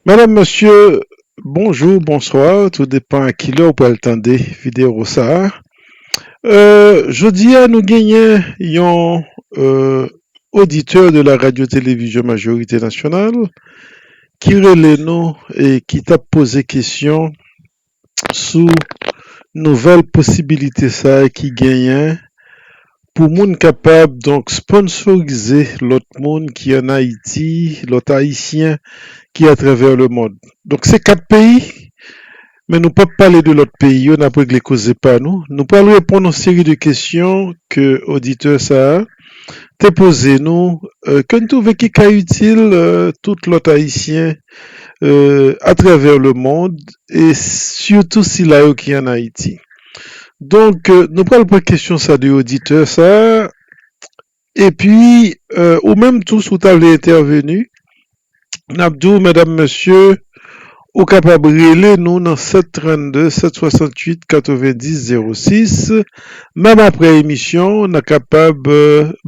Madame mesye bonjou bonswa tou depan a kilè ou pral tande video sa Jodi a nou genyen yon oditè de la radyo televizyon majorite nasyonal ki rele nou e ki tap poze kesyon sou nouvèl posibilite sa ki genyen pou moun kapab donk sponsorize lòt moun ki an Ayiti, lòt Ayisyen ki atravè lemond. Donk se 4 peyi, men nou pap pale de lòt peyi yo, nap regle koze pa nou. Nou pral reponn yon seri de kesyon ke oditè sa te poze nou, ke n twouve ki ka itil tout lòt Ayisyen atravè lemond e sitou sila yo ki ann Ayiti. Donk, nou pral pran kesyon sa de oditè sa a epi ou menm tou si w ta vle entèveni n ap di w medam mesye ou kapab rele nou nan 732 768 90 06 menm aprè emisyon n a kapab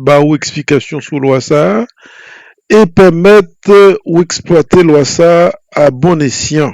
ba ou eksplikasyon sou lwa sa e pèmèt ou eksplwate lwa sa a bon esyan.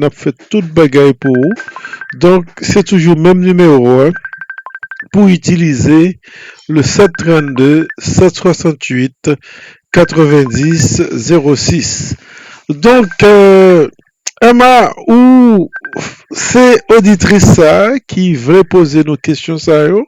nap fè tout bagay pou ou donk se toujou menm nimewo a pou itilize le 732 768 90 06 donk Emma ou se oditris sa ki vle poze nou kesyon sa yo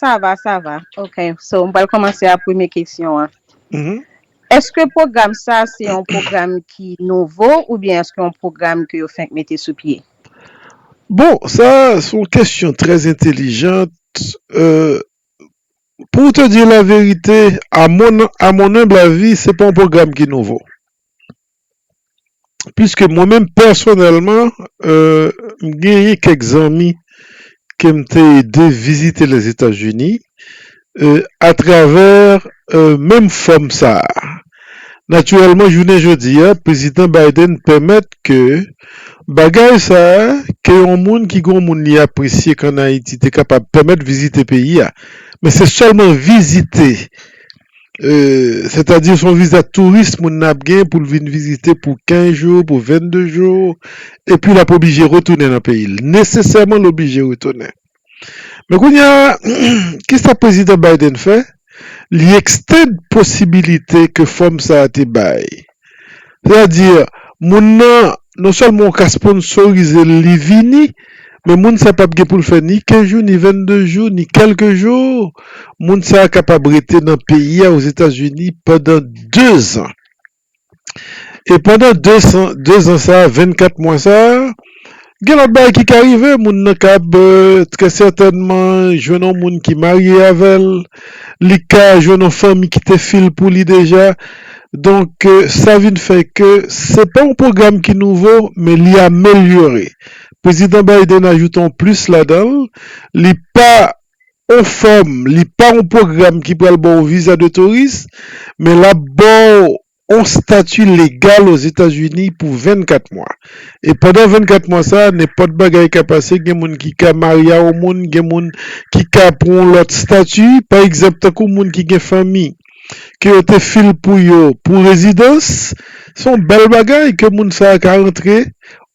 Sa va, sa va. Ok. So, m pral kòmanse a premye kesyon an. Mm-hmm. Eske pwogram sa a se yon pwogram ki nouvo oubyen eske yon pwogram ke yo fenk mete sou pye? Bon, sa a se yon kesyon trè entelijant. Pou w te di laverite, a mon, a mon humble avis, se pa yon pwogram ki nouvo. Piske mwen menm pèsonèlman, m genyen kèk zanmi ke m te ede vizite Lèzetazini atravè menm fòm sa a. Natirèlman, jounen jodi a, Prezidan Biden pèmèt ke bagay sa a, ke yon moun ki gen yon moun li apresye ki ann Ayiti te kapab pèmèt vizite peyi a, men se sèlman vizite. sètadi son viza touris moun nan ap gen pou l vin vizite pou 15 jou, pou 22 jou, epi l ap oblije retounen nan peyi l, nesesèman l oblije retounen. Men kounye a, ki sa Prezidan Biden fè? Li ekstand posibilite ke fòm sa a te bay. Sètadi, moun nan non sèlman ou ka sponsorize l li vini, men moun sa pa p gen pou l fè ni kenz jou, ni venn-de jou, ni kèlk jou. Moun sa kapab rete nan peyi a, Ozetazini, pandan dezan. E pandan dezan sa a, vennkat mwa sa a, Gen lòt bagay ki ka rive, moun nan kab trè sètènman jwenn yon moun ki marye avè l, li ka jwenn yon fanmi ki te fi l pou li deja. Donk, sa vin fè ke se pa yon pwogram ki nouvo, men li amelyore. Prezidan Biden ajoute yon plis ladan l, li pa yon fòm, li pa yon pwogram ki pral ba w viza de touris, men l ap ba w yon stati legal Ozetazini pou 24 mwa. E pandan 24 mwa sa a, nenpòt bagay ka pase, gen moun ki ka marye a yon moun, gen moun ki ka pou yon lòt stati, pa egzanp tankou moun ki gen fanmi ke yo te fil pou yo pou rezidans, se yon bèl bagay ke moun sa a ka rantre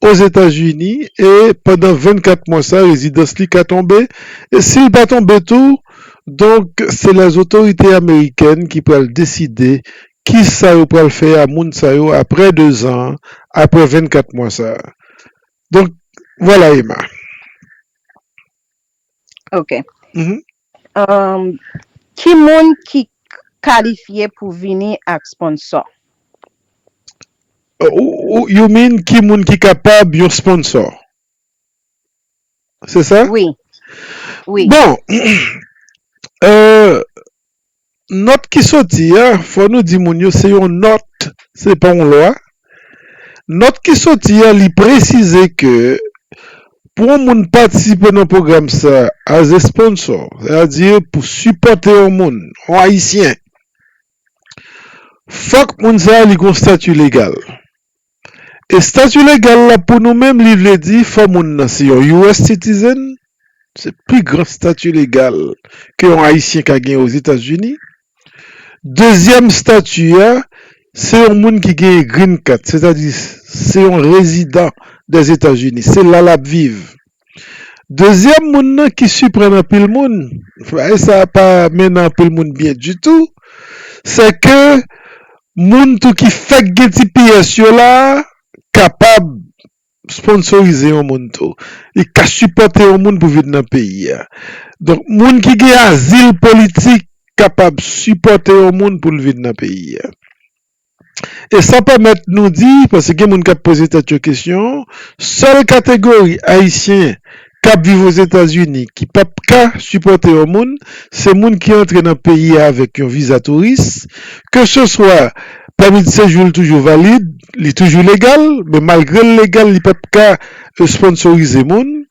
Ozetazini e pandan 24 mwa sa rezidans li ka tonbe e si l pa tonbe tou donk se lè zotorite amerikèn ki pral deside kisa yo pral fè a moun sa yo aprè 2 zan an aprè 24 mwa sa donk vwala Emma. Ok. Ki moun ki kalifye pou vini ak sponsò? You mean ki moun ki kapab yon sponsò? Se sa? Wi. Bon, eee. Nòt ki soti a, fò nou di moun yo se yon nòt, se pa yon lwa. Nòt ki soti a li presize ke pou yon moun patisipe nan pwogram sa as a sponsor, sètadi pou sipòte yon moun, yon ayisyen, fòk moun sa li gen yon stati legal. Estati legal la pou nou menm li vle di fò moun nan se yon US citizen, se pi gran stati legal ke yon ayisyen ka gen ozetazini. Dezyèm stati a se yon moun ki genyen green card, se ta di se yon rezidan dèzetazini, se la lap viv. Dezyèm moun nan ki siprann anpil moun, bagay sa a pa mennen anpil moun byen ditou, sè ke moun tou ki fèk gen ti piyès yo la a kapab sponsorize yon moun tou. Li ka sipòte yon moun pou vin nan peyi a. Donk moun ki gen azil politik kapab sipòte yon moun pou l vin nan peyi a. E sa pèmèt nou di, paske gen moun k ap poze tèt yo kesyon, sèl kategori ayisyen k ap viv Ozetazini ki p ap ka sipòte yon moun, se moun ki antre nan peyi a avèk yon viza touris, keseswa pèmi de sejou l toujou valid, li toujou legal, men malgre l legal li p ap ka esponnsorize moun.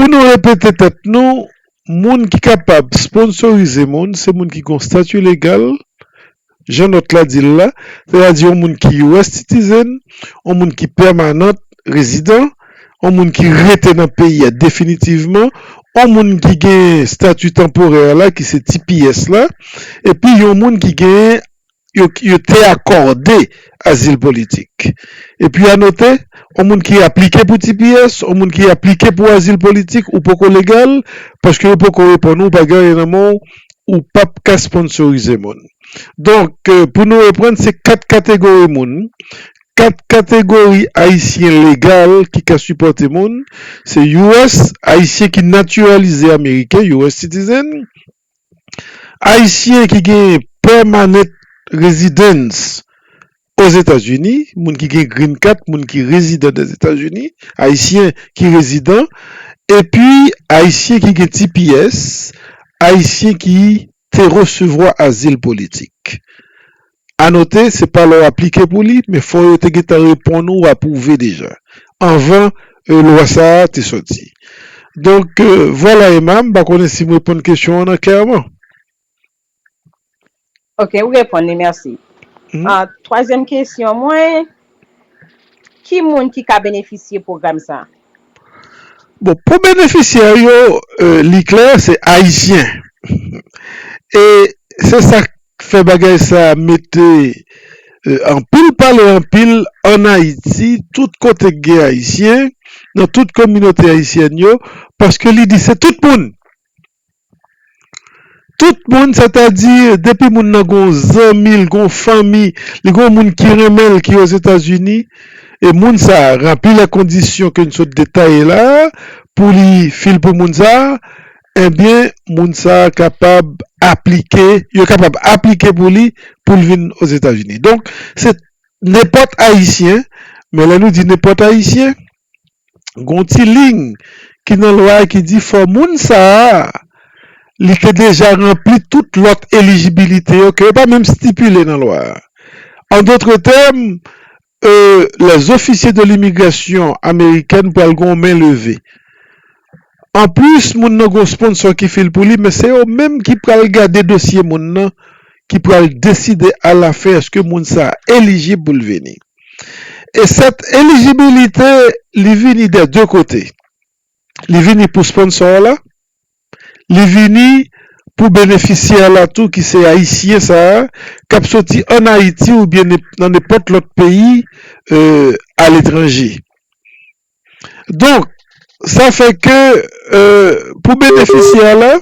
Pou nou repete tèt nou, moun ki kapab sponsorize moun se moun ki gen yon stati legal, jan nòt la di l la, sètadi yon moun ki US citizen, yon moun ki pèmanant rezidan, yon moun ki rete nan peyi a definitivman, yon moun ki genyen stati tanporè la ki se tps la, epi yon moun ki genyen yo te akòde azil politik. Epi anote, yon moun ki aplike pou tps, yon moun ki aplike pou azil politik, ou poko legal, paske yo poko reponn ou, bagay yo nan men w, ou p ap ka sponnsorize moun. Donk, pou nou reprann, se kat kategori moun, kat kategori Ayisyen legal ki ka sipòte moun, se US, Ayisyen ki natiralize Ameriken, US citizen, Ayisyen ki gen Permanent Residence Ozetazini, moun ki gen Green Card, moun ki rezidan Dèzetazini, Ayisyen ki rezidan, epi Ayisyen ki gen tps, Ayisyen ki te resevwa azil politik. Anote, se pa lè w aplike pou li, men fò yo te gentan reponn ou apwouve deja, anvan lwa sa a te sòti. Donk, vwala Emma, m pa konnen si m reponn kesyon an nan klèman. Ok, ou reponn li, mèsi. Twazyèm kesyon mwen, ki moun ki ka benefisye pwogram sa a? Bon, pou benefisyè yo, li klè, se Ayisyen. E se sa k fè bagay sa mete anpil pale anpil an Ayiti tout kote k gen ayisyen nan tout kominote ayisyèn yo paske li di se tout moun tout moun sètadi depi moun nan gon zanmi l gon fanmi li gon moun ki renmen l ki ozetazini e moun sa ranpli lè kondisyon ke n sot detaye la pou li fil pou moun sa Ebyen moun sa kapab aplike, yo kapab aplike pou li pou l vin Ozetazini. Donk se nenpòt ayisyen, men lè nou di nenpòt ayisyen, gon ti lign ki nan lwa a ki di fò moun sa a li te deja ranpli tout lòt elijibilite yo ke yo pa menm stipile nan lwa a. An dotre tèm, E lè zofisye de limigrasyon amerikèn pral gon men leve. Anplis moun nan gon sponsò ki fil pou li men se yo menm ki pral gade dosye moun nan ki pral deside a la fen eske moun sa elijib pou l vini. E sèt elijibilite li vini dè de kote. Li vini pou sponsò w la. Li vini pou benefisyè la tou ki se ayisyen sa a k ap soti ann Ayiti oubyen nan nenpòt lòt peyi aletranje. Donk, sa fè ke pou benefisyè la,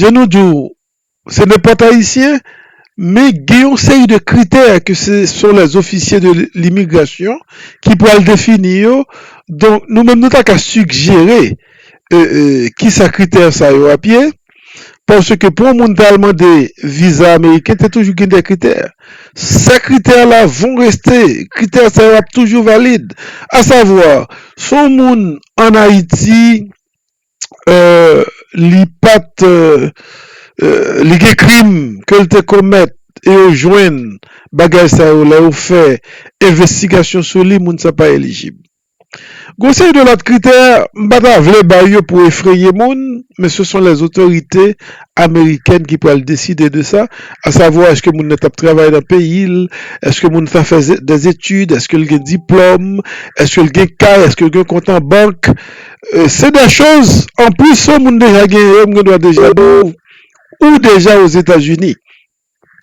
jan nou di w, Se nenpòt ayisyen, men gen yon seri de kritè ke se son lè zofisye de limigrasyon ki pral defini yo, donk nou menm nou ta ka sigjere ki sa kritè sa yo ap ye, paske pou yon moun ta al mande viza ameriken te toujou gen de kritè, sa kritè la von reste, kritè sa yo ap toujou valid, a savwa, son moun an Ayiti, li pat li gen krim ke l te komèt e yo jwenn bagay sa yo lè yo fè envestigasyon sou li moun sa pa elijib gon seri de lòt kritè m pa ta vle bay yo pou efreye moun men se son lè otorite amerikèn ki pral deside de sa a savo eske moun nan t ap travay nan peyi l eske moun sa fè dèzetid eske l gen diplòm eske l gen kay eske l gen kont an bank. Se de choz anplis sou moun deja gen yo m gen dwa deja di w ou deja ozetazini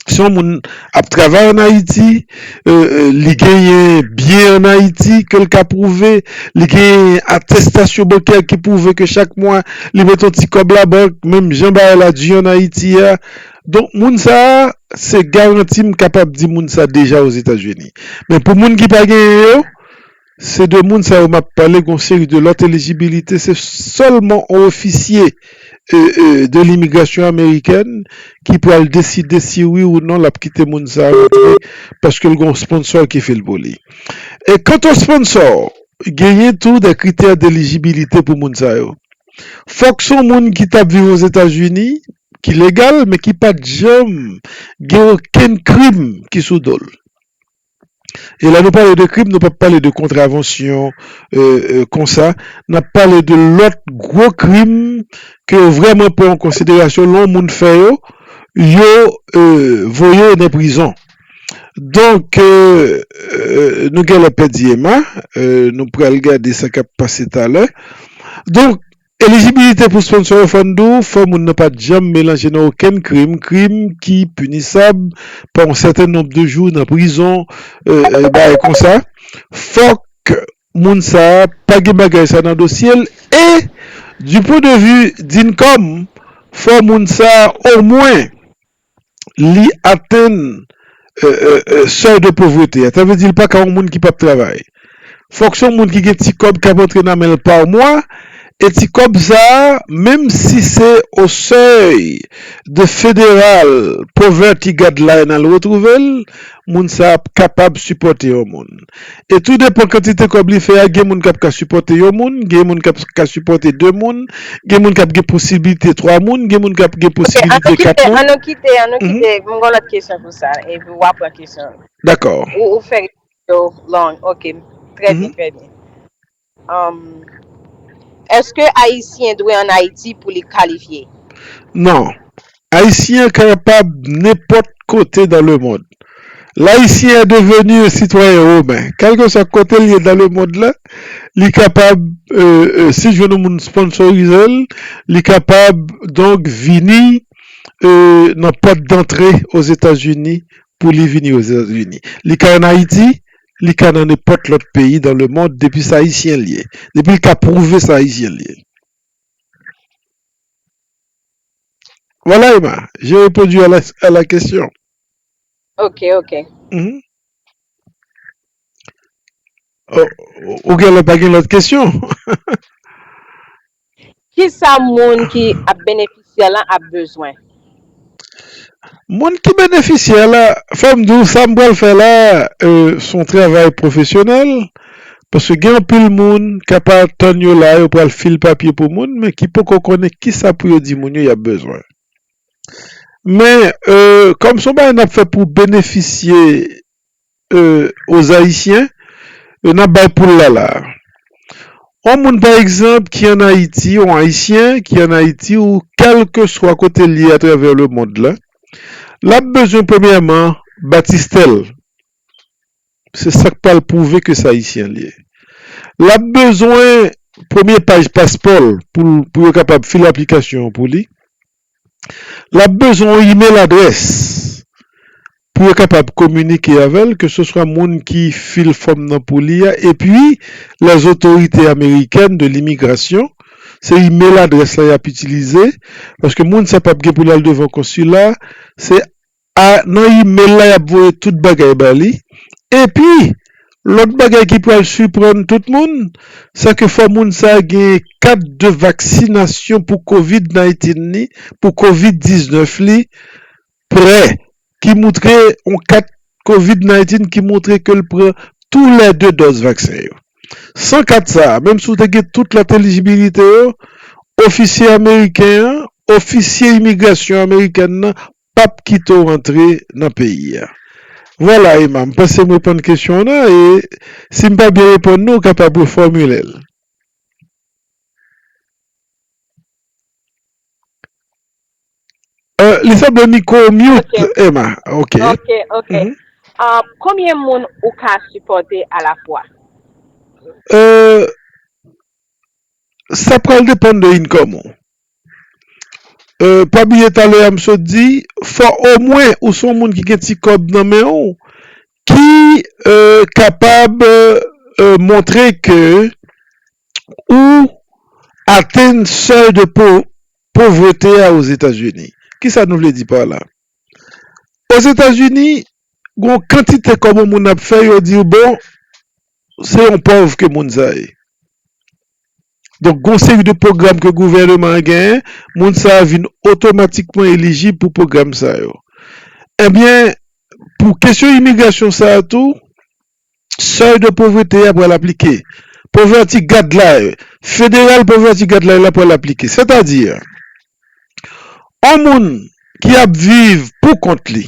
si yon moun ap travay an ayiti li genyen byen an ayiti ke l ka pwouve li genyen atestasyon bankè ki pwouve ke chak mwa li mete yon ti kòb la bank menm jan bagay la di an ayiti a donk moun sa a se garanti m kapab di moun sa deja ozetazini men pou moun ki pa genyen yo Se de moun sa yo map pale gon seri de lòt elijibilite se sèlman on ofisye de limigrasyon amerikèn ki pral deside si wi ou non lap kite moun sa rantre paske l gon sponsò ki fil pou li e kant o sponsò genyen tou de kritè delijibilite pou moun sa yo fòk son moun ki tap viv ozetazini ki legal men ki pat janm gen okenn krim ki sou dol. E lè nou pale de krim, nou pa p pale de kontravansyon konsa, n ap pale de lòt gwo krim ke yo vrèman pran an konsiderasyon, lè yon moun fè yo, yo voye yo nan prizon. Donk, nou gen lè pèdi Emma, nou pral gade sa k ap pase talè. Donk, Elijibilite pou sponsò yo fòn di w fò moun nan pa t janm melanje nan okenn krim, krim ki pinisab pa yon sèten nonb de jou nan prizon e bagay konsa, fòk moun sa pa gen bagay sa nan dosye l e di pwen de vi Dincom fò moun sa omwen. li atenn sèy de povrete a, sa vle di li pa ka yon moun ki pap travay. Fòk se yon moun ki gen ti kòb kap antre nan men l pa mwa, e ti kòb sa a, menm si se o sèy de federal, poverty guideline al retwouve l, moun sa a ap kapab sipòte yon moun. e tou depan kantite kòb li fè a gen moun kap ka sipòte yon moun, gen moun kap ka sipòte 2 moun, gen moun kap gen posiblite 3 moun, gen moun kap gen posibilite 4 moun. Ok an nou kite, an nou kite, m gon lòt kesyon pou sa epi wa pran kesyon. Dakò. Ou fè yo long, ok, trè byen, trè byen. Humm eske ayisyen dwe an ayiti pou li kalifye? Non. Ayisyen kapab nenpòt kote dan le mond. L'haïtien est devenu un citoyen romain. Kèlkeswa kote li ye dan le mond la, li kapab si l jwenn yon moun sponsorize l, li kapab donk vini nan pòt dantre Ozetazini pou li vini Ozetazini. Li ka an Ayiti, li ka nan nenpòt lòt peyi dan le mond depi sa ayisyen l ye, depi l ka pwouve sa ayisyen l ye. Voilà Emma, j'ai répondu à la à la question. Ok, ok. Ou gen lè pa gen lòt kesyon? Kisa moun ki ap benefisyè lan ap bezwen? Moun ki benefisyè la, fò m di w sa m pral fè la se yon travay pwofesyonèl paske gen anpil moun k ap atann yo la yo pral fil papye pou moun men ki poko konnen kisa pou yo di moun yo y ap bezwen. Men kòm se yon bagay n ap fè pou benefisye aux Haïtiens n ap bay poul la la a. On moun pa egzanp ki an Ayiti, on Ayisyen ki an Ayiti ou kèlkeswa kote l ye atravè lemond la, l ap bezwen premyèman batistè l, se sa k pral pwouve ke se Ayisyen l ye. L ap bezwen premye paj paspò l pou yo kapab file aplikasyon an pou li. L ap bezwen yon imel adrès pou yo kapab kominike avè l, keseswa moun ki fil fòm nan pou li a epi lèzotorite amerikèn de limigrasyon. Se imel adrès la y ap itilize paske moun sa p ap gen pou l al devan konsila. Se a nan email la yap voye tout bagay ba li epi lòt bagay ki pral siprann tout moun se ke fò moun sa genyen kat de vaksinasyon pou covid 19 li pou covid 19 li prè ki moutre yon kat covid 19 ki moutre ke l pran tou lè 2 dòz vaksen yo san kat sa a menm si w te gen tout lòt elijibilite yo ofisye ameriken an ofisye imigrasyon amerikèn nan pap kite w antre nan peyi a. Vwala Emma, m panse m reponn kesyon w nan e si m pa byen reponn ni w kapab refòmile l. Li sanble mikwo w mute Emma. Ok. Ok, ok. Konbyen moun ou ka sipòte alafwa? Sa pral depann de income ou. Pa bliye talè a m sot di, fò omwen ou son moun ki gen ti kòb nan men ou, ki kapab montre ke ou atenn sèy de povrete a Ozetazini. Ki sa nou vle di pa la? Ozetazini, gon kantite kòb yon moun ap fè, yo di w bon, se yon pòv ke moun sa ye. Donk gen yon seri de pwogram ke gouvèneman an genyen, moun sa yo vin otomatikman elijib pou pwogram sa yo. Ebyen, pou kesyon imigrasyon sa a tou, sèy de povrete a pral aplike. Poverty Guideline, Federal Poverty Guideline la pral aplike. Sètadi, yon moun ki ap viv pou kont li,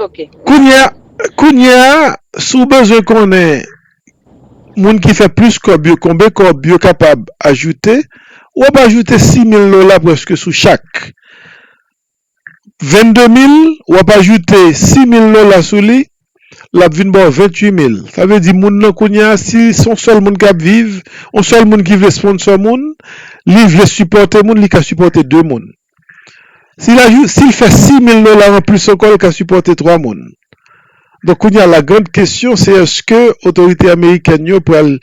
Ok. Kounye a, kounye a, si w bezwen konnen moun ki fè plis kòb yo konbe kòb yo kapab ajoute, w ap ajoute 6000 dola prèske sou chak. 22 mil, w ap ajoute 6000 dola sou li, l ap vin ba w 28 mil. Sa vle di moun nan kounye a, si se yon sèl moun k ap viv, yon sèl moun ki vle sponsor moun, li vle sipòte moun, li ka sipòte 2 moun. Si l ajoute, si l fè 6000 dola anplis sou kò l ka sipòte 3 moun. Donk kounye a la grand kesyon se eske otorite amerikèn yo pral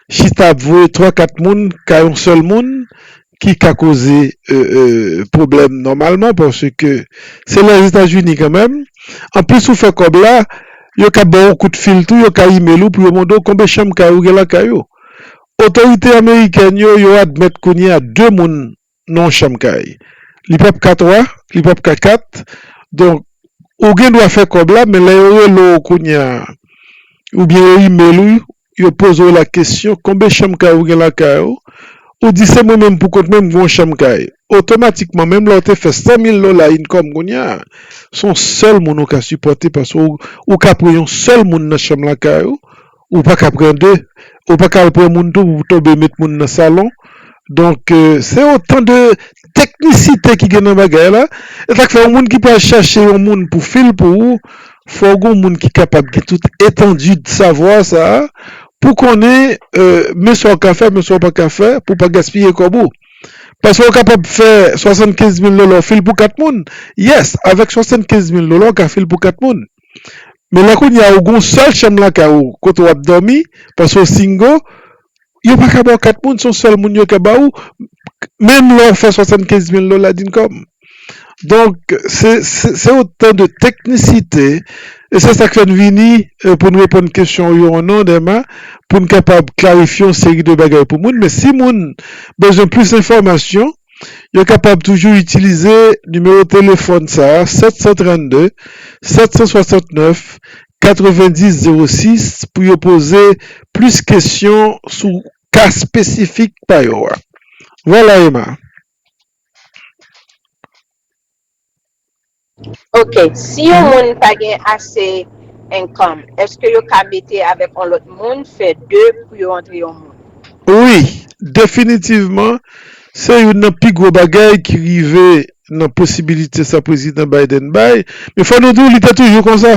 chita ap voye 3 4 moun kay yon sèl moun ki ka koze pwoblèm nòmalman paske se Lèzetazini kanmenm. Anplis ou fè kòb la yo ka ba w yon kout fil tou, yo ka imel ou pou yo mande w konbe chanm kay ou gen lakay ou. Otorite amerikèn yo yo admèt kounye a 2 moun non chanm kay li pap ka 3 li pap ka 4 donk ou gen dwa fè kòb la men lè yo rele w kounye a oubyen yo imel ou yo poze w la kesyon konbe chanm kay ou gen lakay ou ou di se mwen menm pou kont mwen m gen yon chanm kay otomatikman menm lè w te fè 100 mil dola income kounye a son sèl moun ou ka sipòte paske ou ka pran yon sèl moun nan chanm lakay ou. Ou pa ka pran 2, ou pa ka al pran moun tou pou tonbe met moun nan salon. Donk, se otan de teknisite ki gen nan bagay la. E sa k fè yon moun ki pral chache yon moun pou fi l pou ou, fò w gen yon moun ki kapab gen tout etandi de savwa sa a pou konnen men sa w ka fè, men sa w pa ka fè pou w pa gaspiye kòb ou. Paske ou kapab fè 75 mil dola w fi l pou 4 moun. Yes, avèk 75 mil dola w ka fi l pou 4 moun. Men lè kounye a ou gen yon sèl chanm lakay ou kote w ap dòmi paske w singo, yo pa ka ba w kat moun, se yon sèl moun yo ka ba ou menm lè w fè swasannkenz mil dola di kòm. Donk se se otan de teknisite e se sa k fè n vini pou n reponn kesyon w yo an non Dema pou n kapab klarifye yon seri de bagay pou moun men si moun bezwen plis enfòmasyon. Yo kapab toujou itilize nimewo telefòn sa 732 769 9006 pou yo poze plis kesyon sou ka espesifik pa yo a. Vwala Ema. Ok si yon moun pa gen ase income eske yo ka mete avek yon lot moun fe 2 pou yo antre yon moun. Wi definitivman se youn nan pi gwo bagay ki rive nan posibilite sa prezidan Biden bay men fò nou di w li te toujou konsa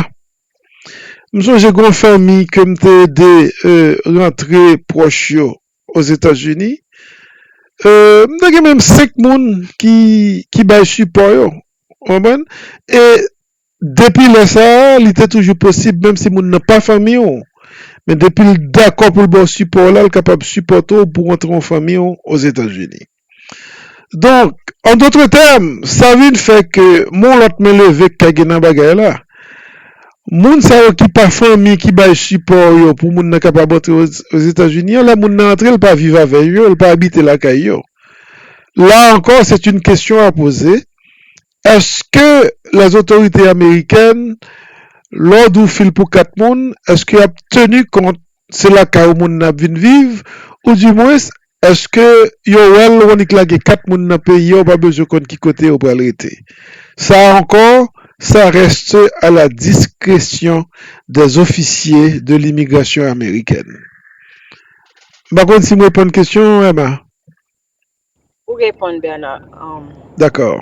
m sonje gon fanmi ke m te ede rantre pwòch yo Ozetazini, m ta gen menm 5 moun ki bay sipò yo. Ou konprann? E depi lè sa a, li te toujou posib menm si moun nan pa fanmi ou, men depi l dakò pou l ba w sipò w la, l kapab sipòte w pou w antre nan fanmi w Ozetazini. Donk, an dotre tèm, sa vin fè ke m'on lòt men leve k'ta gen nan bagay la. Moun sa yo ki pa fanmi ki bay sipò yo pou moun nan kapab antre Ozetazini an, lè moun nan antre l pa viv avè yo, l pa abite lakay yo. La ankò, c'est une question à poser Eske les otorite amerikèn lè w di w fil pou 4 moun eske yap teni kont se lakay w moun nan ap vin viv ou di mwens eske yo wè l w annik lage 4 moun nan peyi a w pa bezwen konn ki kote yo pral rete sa a ankò sa reste a la diskresyon des ofisye de limigrasyon amerikèn m pa konn si m reponn kesyon an Emma. Ou reponn Bernard um. Dakor.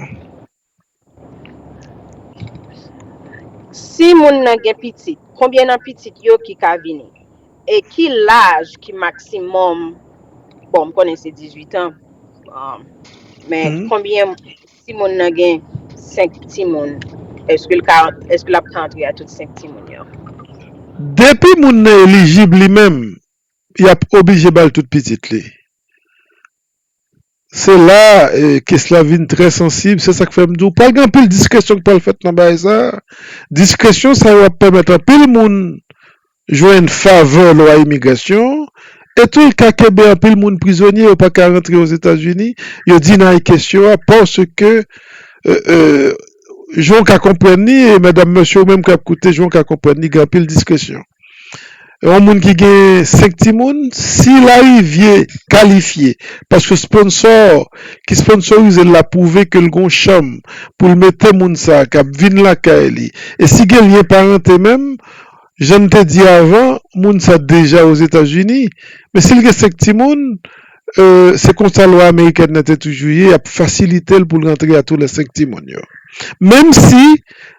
Si moun nan gen pitit, konbyen nan pitit yo ki ka vini? E ki laj ki maksimòm, bon m konnen se 18 an, um men Mhm. konbyen si moun nan gen 5 timoun, eske l ka eske l ap ka antre a tout 5 timoun yo? Depi moun nan elijib li menm, Yap oblije bal tout pitit li. Se la kes la vin trè sansib, se sak fèm diw pral gen anpil diskresyon ki pral fèt nan bagay sa, diskresyon sa yo ap pèmèt anpil moun jwenn favè lwa imigrasyon e tou l ka kenbe anpil moun prizonye yo pa ka rantre ozetazini, yo deny kesyon an paske jan w ka konprann li e mèdam mesye ou menm kap koute jan w ka konprann li gen anpil diskresyon. yon moun ki gen 5 timoun, si l arive kalifye paske sponsò ki sponsorize l la pwouve ke l gen yon chanm pou l mete moun sa a k ap vin lakay li e si gen lyen parante menm, jan m te di avan, moun sa deja Ozetazini, men si l gen 5 timoun, se konsa lwa amerikèn nan te toujou ye, y ap fasilite l pou l rantre a tou lè 5 timoun yo. Menm si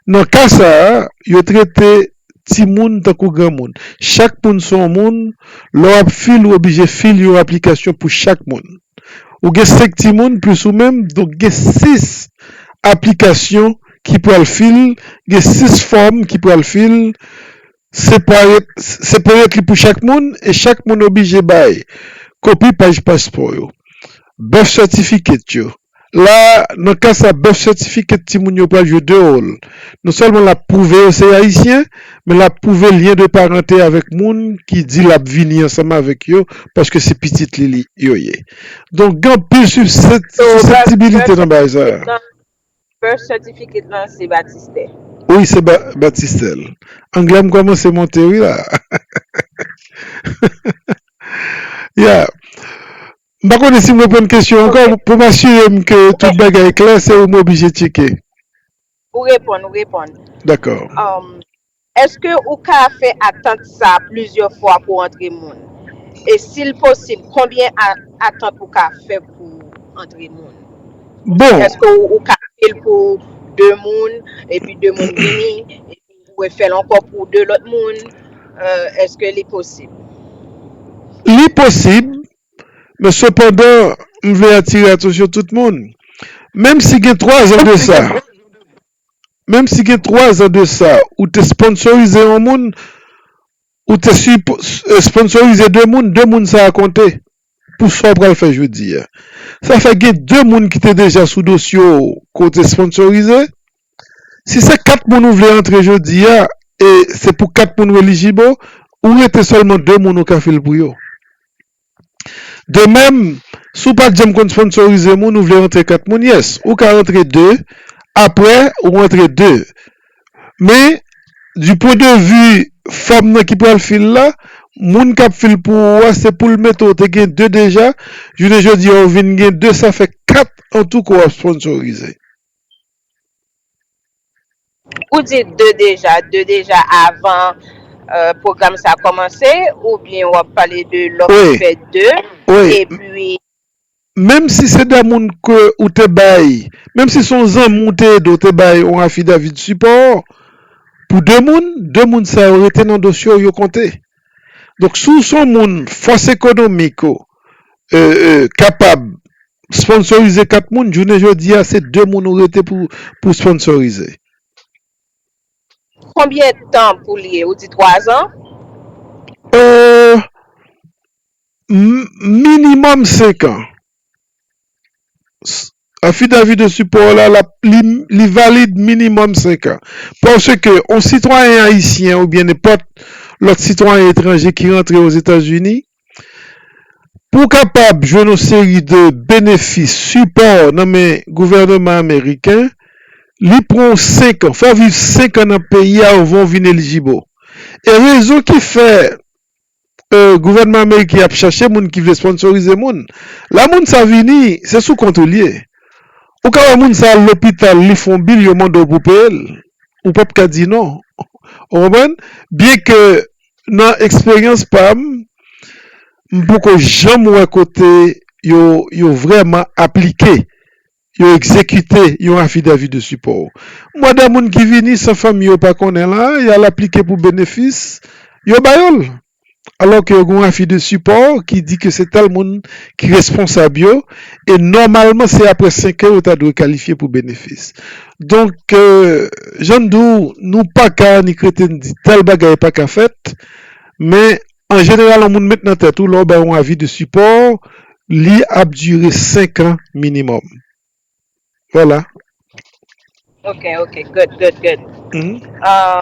nan ka sa a, yo trete. timoun tankou granmoun. Chak moun se yon moun, lè w ap fil ou oblije fil yon aplikasyon pou chak moun. Ou gen 5 timoun plis ou menm, donk gen 6 aplikasyon ki pral fil, gen 6 fòm ki pral fil, separately pou chak moun e chak moun oblije bay kopi paj paspò yo, birth certificate yo, La, nan ka sa birth certificate timoun yo pral jwe 2 wòl. Non sèlman l ap pwouve yo se Ayisyen, men l ap pwouve lyen de parante avèk moun ki di l ap vini ansanm avèk yo paske se pitit li yo ye. Donk gen anpil siseptibilite nan bagay sa a. Birth certificate lan se batistè? Wi, se batistè l. Anglè m kòmanse monte wi la. Ya. M pa konnen si m reponn kesyon an ankò, pou m asire m ke tout bagay klè se ou m oblije tcheke. Ou reponn, ou reponn. Dakò. Eske ou ka fè atant sa plizyè fwa pou antre moun? E si l posib konbyen atant ou ka fè pou antre moun? Bon. Eske ou ka fè l pou 2 moun, epi 2 moun vini, epi ou refè l ankò pou 2 lòt moun? Eske li posib? Li posib, Men sepandan, m vle atire atansyon tout moun, menm si gen 3 zan de sa, menm si gen 3 zan de sa, ou te sponsorize yon moun, ou te sponsorize 2 moun, 2 moun sa a konte pou sa w pral fè jodi a. Sa fè gen 2 moun ki te deja sou dosye w ke w te sponsorize, Si se 4 moun ou vle antre jodi a e se pou 4 moun ou elijib o ou rete sèlman 2 moun ou ka fil pou yo. De mèm, si w pat janm konn sponsorize moun ou vle rantre 4 moun, yes, ou ka rantre 2, aprè ou rantre 2. Men, di pwen de vi fanm nan ki pral fil la, moun kap fil pou ou a se poul mete w te gen 2 deja, jounen jodi a ou vin gen 2 sa fè 4 antouka w ap sponsorize. Ou di 2 deja, 2 deja avan pwogram sa kòmanse oubyen wap pale de lè ou fè 2 epi. Menm si se 2 moun ke ou te bay, menm si son zanmi ou te ede ou te bay yon afidavi de sipò pou 2 moun, 2 moun sa yo rete nan dosye ou yo konte. Donk si w son moun fòs ekonomik ou kapab Sponsorize 4 moun, jounen jodi a se 2 moun ou rete pou sponsorize. Konbyen tan pou li ye ou di 3 zan? Eeuh minimum 5 an. Affidavit de support w la li valid minimum 5 an. Paske yon sitwayen ayisyen oubyen nenpòt lòt sitwayen etranje ki rantre Ozetazini Pou w kapab jwenn yon seri de benefis, sipò nan men gouvèneman ameriken, li pran w 5 an, fò w viv 5 an nan peyi a anvan w vin elijib o. E rezon ki fè gouvèneman ameriken ap chache moun ki vle sponsorize moun, lè moun sa vini, se sou kont ou li ye. Ou ka wè moun sa al lopital, li fè yon bil, yo mande w pou w peye l, ou pap ka di non. Ou konprann? Byen ke nan eksperyans pa m, m poko janm wè kote yo vrèman aplike, yo egzekite yon afidavi de sipò. M wè de moun ki vini san fanmi yo pa konnen la, y al aplike pou benefis, yo ba yo l. Alò ke yo gen yon afi de sipò ki di ke se tèl moun ki responsab yo e nòmalman se aprè senk an yo ta dwe kalifye pou benefis. Donk, jan m di w, nou pa ka ni krete n di tèl bagay pa ka fèt, men an jeneral yon moun met nan tèt ou lè w bay yon avi de sipò li ap dire senkan minimòm. Vwala. Ok ok good good good Ahh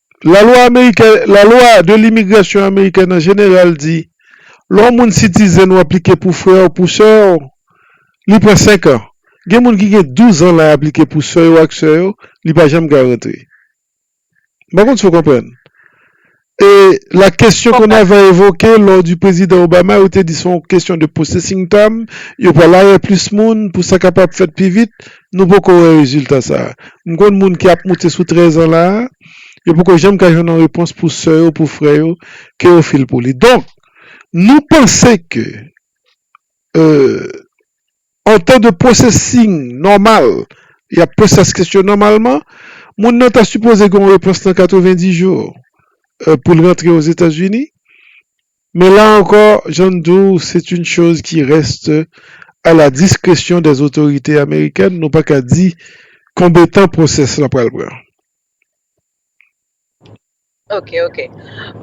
Lalwa amerikèn, La loi de l'immigration américaine en général di lè yon moun sitizen ou aplike pou frè w, pou sè w, li pran 5 an. Gen moun ki gen 12 an la aplike pou sè yo ak sè yo, li pa janm ka rantre. M pa konn si w konprann. E la question qu'on avait evoquée lors du prezidan Obama yo te di se yon kesyon de processing time, yo pral arè plis moun pou sa kapab fèt pi vit. Nou poko wè rezilta sa a. M konn moun ki ap moute sou 13 an la a, yo poko janm ka jwenn yon repons pou sè yo, pou frè yo ke yo fil pou li. Donk, nou panse ke an tan de pwosesing nòmal, y ap poze sa sou kesyon nòmalman, moun nan ta sipoze gen yon repons nan 90 jou pou l rantre Ozetazini. Mais là encore, jan m di w, c'est une chose qui reste à la discrétion des autorités américaines, nou pa ka di konbe tan process la pral pran. Ok ok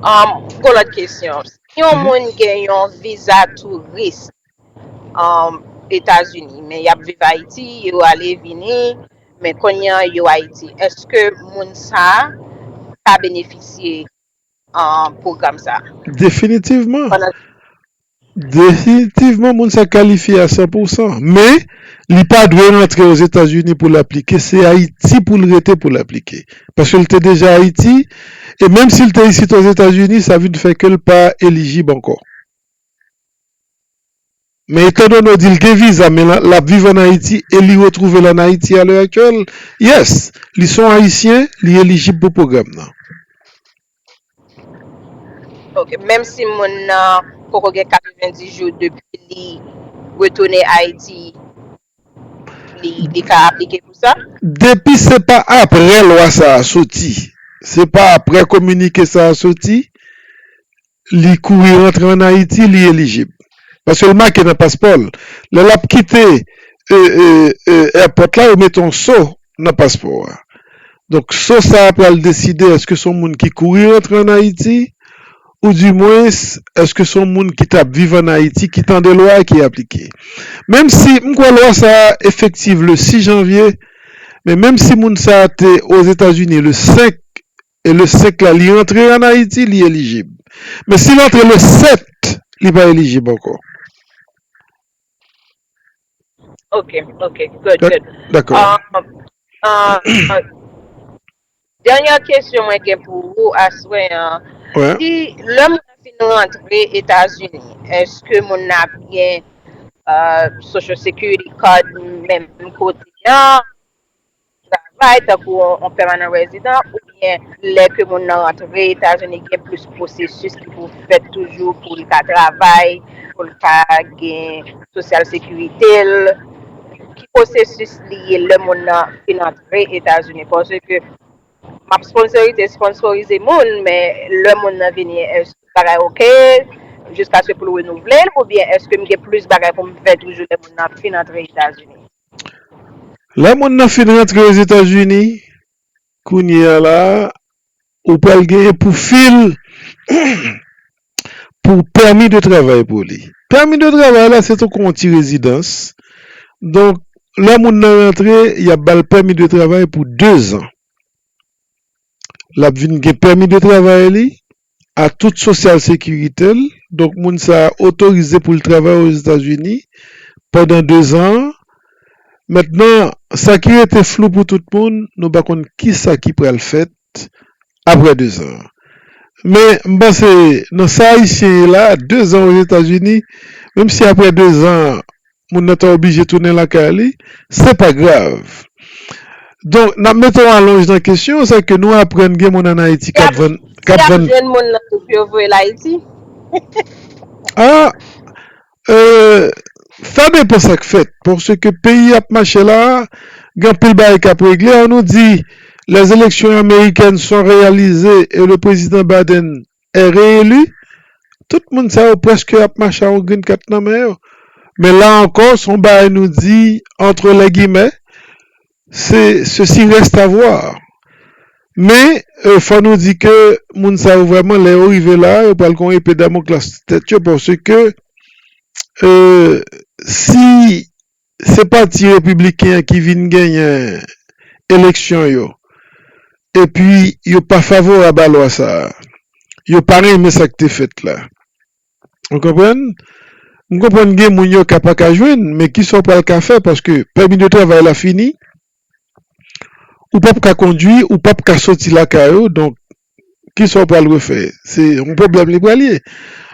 um pou lòt kesyon si yon moun gen yon viza tourist um etazini men yap viv ayiti yo ale vini men kounye an yo ayiti eske moun sa ka benefisye pwogram sa a. Definitivman. Pandan. Definitivman moun sa kalifye a 100 pou 100. Men, li pa dwe rantre Ozetazini pou l aplike. Se Ayiti pou l rete pou l aplike. Paske l te deja Ayiti, e menm si l te isit Ozetazini, sa vin fè ke l pa elijib ankò. Men etandone w di l gen viza men l ap viv an Ayiti e li retwouve l an Ayiti a lè aktyèl, yes, li s on Ayisyen, li elijib pou pwogram nan. Ok, menm si moun nan poko gen 90 jou depi li retounen Ayiti, li ka aplike pou sa? Depi se pa apre lwa sa a soti, se pa apre kominike sa a soti, li kouri rantre an Ayiti li elijib paske l make nan paspò l lè l ap kite èpòt la yo mete yon so nan paspò a donk so sa pral deside èske se yon moun ki kouri rantre an Ayiti ou di mwens èske se yon moun ki t ap viv an Ayiti ki tande lwa a ki aplike menm si m kwè lwa sa efektiv le 6 janvye men menm si moun sa te ozetazini le 5 E le 5 la li rantre an Ayiti li elijib. Men si l antre le 7 li pa elijib ankò. Ok, ok, good, good. Dakò. Dènyè kesyon mwen gen pou ou aswè an, si lè moun nan fin rantre Etazini, èske moun nan ap gen social security card menm kote an? travay tankou yon pèmanan rezidan oubyen lè ke moun nan rantre Etazini gen plis pwosesis ki pou fèt toujou pou li ka travay, pou li ka gen sosyal sekirite l, ki pwosesis li ye lè moun nan fin antre Etazini paske m ap sponsorite sponnsorize moun men lè moun nan vini èske tout bagay ok jiskaske pou l renouvle l oubyen èske m gen plis bagay pou m fè toujou lè moun nan fin antre Etazini? Lè moun nan fin rantre ozetazini kounye a la ou pral gen pou fil pou pèmi de travay pou li pèmi de travay la se tankou yon ti rezidans donk lè moun nan rantre yap bal pèmi de travay pou dezan lap vin gen pèmi de travay li a tout sosyal sekirite l, donk moun sa a otorize pou l travay Ozetazini pandan dezan an. Mentnan, sa ki rete flou pou tout moun, nou pa konn kisa ki pral fèt aprè dezan an. Men, m panse nan sa Ayisyen ye la, dezan Ozetazini, menm si aprè dezan an moun nan ta oblije tounen lakay li, se pa grav. Donk, n ap mete yon alonj nan kesyon an, sa ke nou aprann gen moun ann Ayiti k ap vann, k ap vann. Si y ap jwenn moun nan tou pou yo voye l Ayiti? A, e, sa depan sa k fèt. Paske peyi ap mache la a, gen anpil bagay k ap regle. An nou di, lèzeleksyon amerikèn swa reyalize e le prezidan Biden re-eli, tout moun sa yo prèske ap mache ak yon grenn kat nan men yo. Men la ankò, se yon bagay nou di antre lè gimè, se ceci reste à voir. Men, fò nou di ke moun sa yo vrèman lè yo rive la, yo pral gen yon epe damoklas sou tèt yo paske si Se pati repibliken an ki vin genyen eleksyon yo epi yo pa favorab a lwa sa a. Yo pa renmen sa k te fèt la. Ou konprann? M konprann gen moun yo ka pa ka jwenn, men ki sa w pral ka fè paske pèmi de travay la fini. Ou pap ka kondui, ou pap ka soti lakay ou donk Kisa ou pral refè? Se yon pwoblèm li pral ye.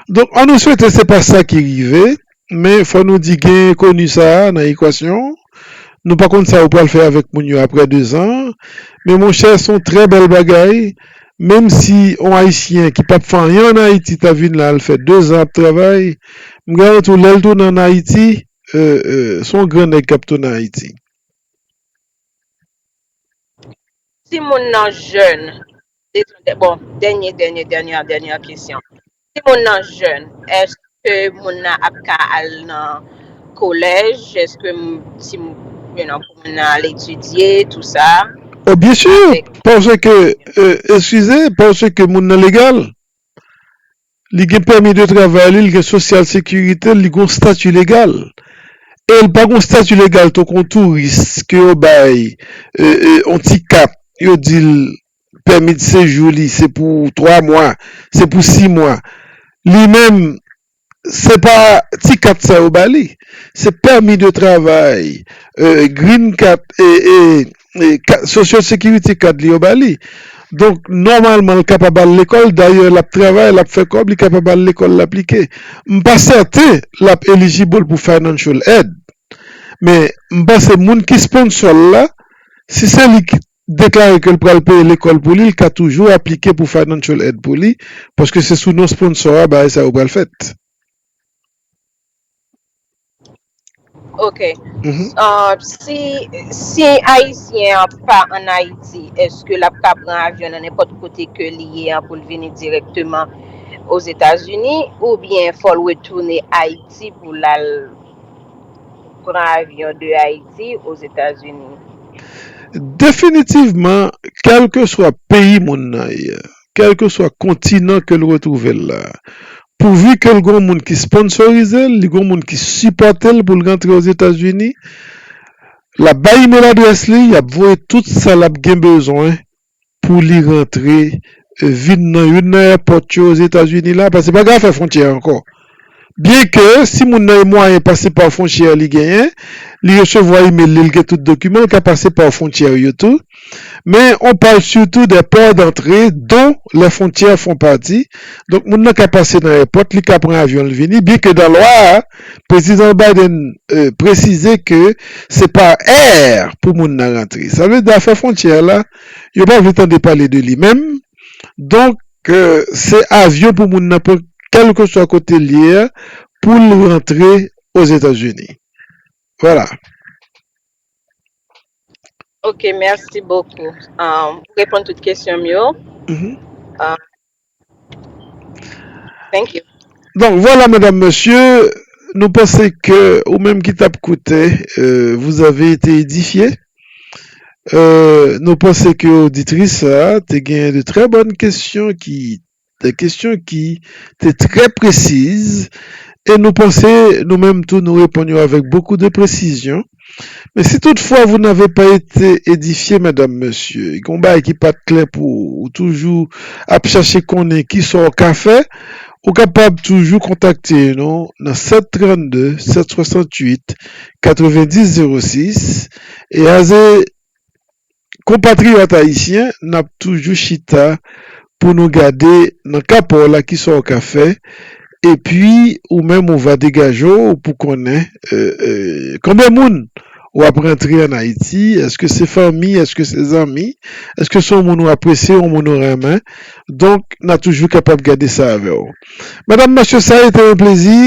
Donk an nou swete se pa sa ki rive, men fò nou di gen enkoni sa a nan ekwasyon, nou pa konn sa ou pral fè avèk moun yo aprè dezan, men monchè son trè bèl bagay, menm si yon ayisyen ki pap fè anyen an Ayiti ta vin la al fè dezan ap travay, m garanti w lè l tounen an Ayiti son gran nèg kap tounen Ayiti. Si moun nan jèn, detan bon dènye dènye dènyè dènyè kesyon, si moun nan jèn èske moun nan ap ka al nan kolèj, èske si you know pou moun nan al etidye tou sa Oh byen sûr avèk. paske eskize paske moun nan legal. li gen pèmi de travay li, li gen sosyal sekirite l, li gen yon stati legal. E l pa gen yon stati legal tankou yon touris ke yo bay yon ti kat, yo di l pèmi de sejou li se pou 3 mwa, se pou 6 mwa. Li menm, se pa ti kat sa yo ba li, se pèmi de travay, green kat. Social Security Card li yo ba li. Donk, nòmalman l kapab al lekòl. Dayè, l ap travay, l ap fè kòb, li kapab al lekòl, l aplike. M pa sèten l ap eligible pou financial aid. Men, m panse moun ki sponsor l la, si se li ki deklare ke l pral peye lekòl pou li, l ka toujou aplike pou financial aid pou li, paske se sou non sponsor a bagay sa yo pral fèt. Ok, si ayisyen an pa an ayiti, eske l ap ka pran avyon nan nenpòt kote ke li ye an pou l vini direkteman ozetazini oubyen fò l retounen ayiti pou l al pran avyon de ayiti ozetazini? Definitivman, kèlkeswa peyi moun nan ye, kèlkeswa kontinan ke l retwouve l la. Pouvi ke l gon moun ki sponsorize l, li gon moun ki sipòte l pou l rantre Ozetazini, l ap bay email adrès li, y ap voye tout sa l ap gen bezwen pou li rantre vin nan youn nan èpòt yo Ozetazini la, paske pa gen afè fwontyè ankò. Byen ke si moun nan gen mwayen pase pa fwontyè li genyen li resevwa email li, li gen tout dokiman li ka pase pa fwontyè yo tou men on parle surtout des ports d'entrée dont les frontières font partie donk moun nan ka pase nan èpòt li ka pran avyon li vini byen ke nan lwa a Prezidan Biden presize ke se pa air pou moun nan rantre sa vle di afè fwontyè la yo pa vle tande pale de li menm donk Ke se avyon pou moun nan pran kelkeswa kote l ye a pou l rantre Ozetazini. Vwala. Ok merci beaucoup ou reponn tout kesyon m yo thank you. Donk vwala medam mesye nou panse ke ou menm ki tap koute vous avez été édifié. Nou panse ke oditris sa a te gen de trè bòn kesyon ki, de kesyon ki te trè presiz e nou panse nou menm tou nou reponn yo avèk bokou de presizyon. Men si tout fwa vou nave pa ete edifye medam, mesye, gen yon bagay ki pa t klè pou ou, ou toujou ap chache konnen ki sa w ka fè, ou kapab toujou kontakte nou nan 732 768 90 06 e aze konpatriyòt ayisyen n ap toujou chita pou nou gade nan ka pa w la kisa w ka fè epi ou menm ou va degaje w pou konnen konbyen moun w ap rantre an Ayiti èske se fanmi èske se zanmi èske se yon moun ou apresye yon moun ou renmen donk n a toujou kapab gade sa avè w Medam Mesye sa rete yon plezi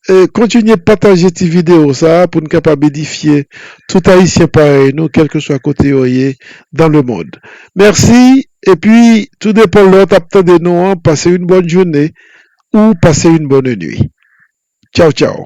Kontinye pataje ti video sa a pou n kapab edifye tout Ayisyen parèy nou kèlkeswa kote yo ye dan le mond. Mèsi epi tou depan lè w t ap tande nou an pase yon bòn joune ou pase yon bòn nuit. Tchaw tchaw.